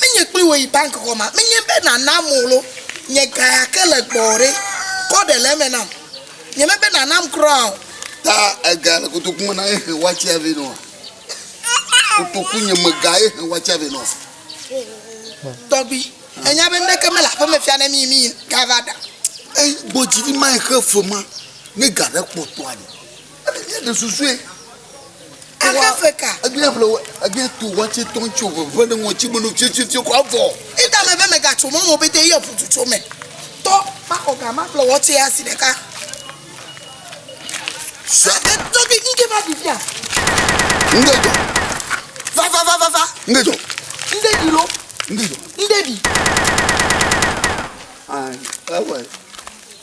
Menye kpli wò yi bank xɔ ma. Menye be nàna mo lo. Nye ga ya ke le gbɔwò ɖe? Kɔ ɖe le eme nam. Nye me be nànam kura o. Ta ega le kotoku me na ye he watsia vɛ nɔa? Kotoku nye me ga ye he watsia vɛ nɔa? Tɔgbui, ènya be nuɖeke mele aƒe me fia ne mí mí ga va ɖa. Eyi gbɔ dzi ɖi ma ye he fe ma ne ga ɖe kpɔtɔa ɖe? Míeɖe susue. Ahefe ka. Egbe ƒle egbe to wɔtse tɔn tso veve ne ŋɔtsi menu fiofio kɔ avɔ. Ida me be megatso mɔ mo bete yɔ ƒutu tso me. Tɔ makɔ ga ma ƒle wɔtse asi ɖeka. Sɔ de tɔ bi ŋge va di fia. Ŋge jɔ. Va va va va va. Ŋge jɔ. Ŋde di lo. Ŋge jɔ. Ŋde di. Ah, ewe.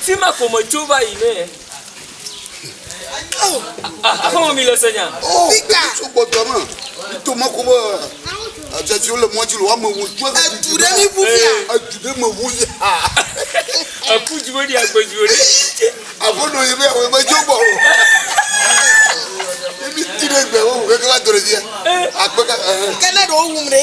Fi ma ko me tso va yi ne. Aƒeme mi le se nya. Oh, tso gbɔdɔ me. Tso me ko be. Dzedzi wole mɔ dzi le woame wo tso. Edu ɖe mi ʋu bia. Edu ɖe me ʋu ya. Eku dzi wo ɖi agbe dzi wo ɖi. Aƒenɔ yi be awo me tso gbɔ o. Ebi ti ɖe gbe wo ʋu keke va do ɖe bia. Akpeka. Kene ɖe wo wu mi ɖe.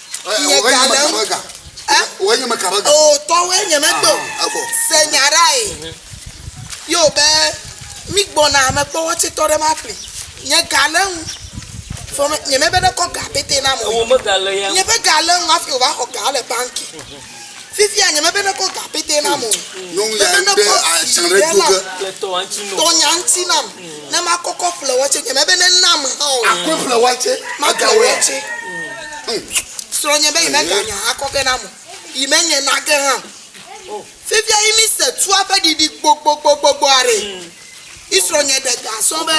Miegale ŋu. Ɛ? Wòe nye meka ɖe ga. Oo, tɔwòe nye megbe o. Aha, evɔ. Se nya ɖae. Mhm. Yeo be, Mígbɔna amekpɔwɔ tsɛtɔ ɖe ma ƒli. Nye ga le ŋu. Vɔ me, nyemebe nekɔ ga pɛtɛ nam o. Ewò me ga le ya ŋu. Nye ƒe ga le ŋu hafi wòva xɔ ga le banki. Mhm. Fifia nye mebe nekɔ ga pɛtɛ nam o. Nyɔnu ya ɖe atsiã ɖe do ge. Tɔ nya ŋuti nam ne makɔkɔ ƒle watsɛ. Nye mebe nenam hã o. Akɔe ƒle watsɛ. Maƒle watsɛ. Srɔ̃nye be yi mega nya akɔ ge nam o. Yi menye na ge hã o. Fifia yi mi se tua ƒe ɖiɖi gbogbogbogbogbɔ aɖe. Israel nye ɖe ga sɔ be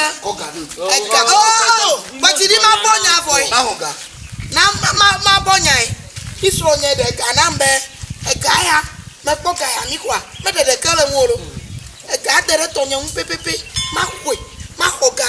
ega oo kpetsi ɖi ma bɔ nya vɔ yi na ma ma ma bɔ nya yi Israel nye ɖe ga nam be ega ya me kpɔ ga ya mi kɔa me ɖe ɖe ke le ŋu o ega de ɖe tɔ nye ŋu pepepe ma koe ma xɔ ga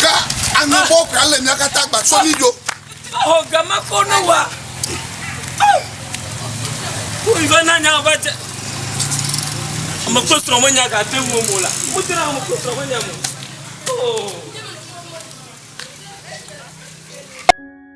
Ka anu bɔ kura le mia kata gba sɔ mi do. Ɔ gama ko ne wa. Ko ibe na nya va tse. Ame kple trɔ me nya ga te wo mo la. Mo te na ame kple trɔ me nya mo. Oh.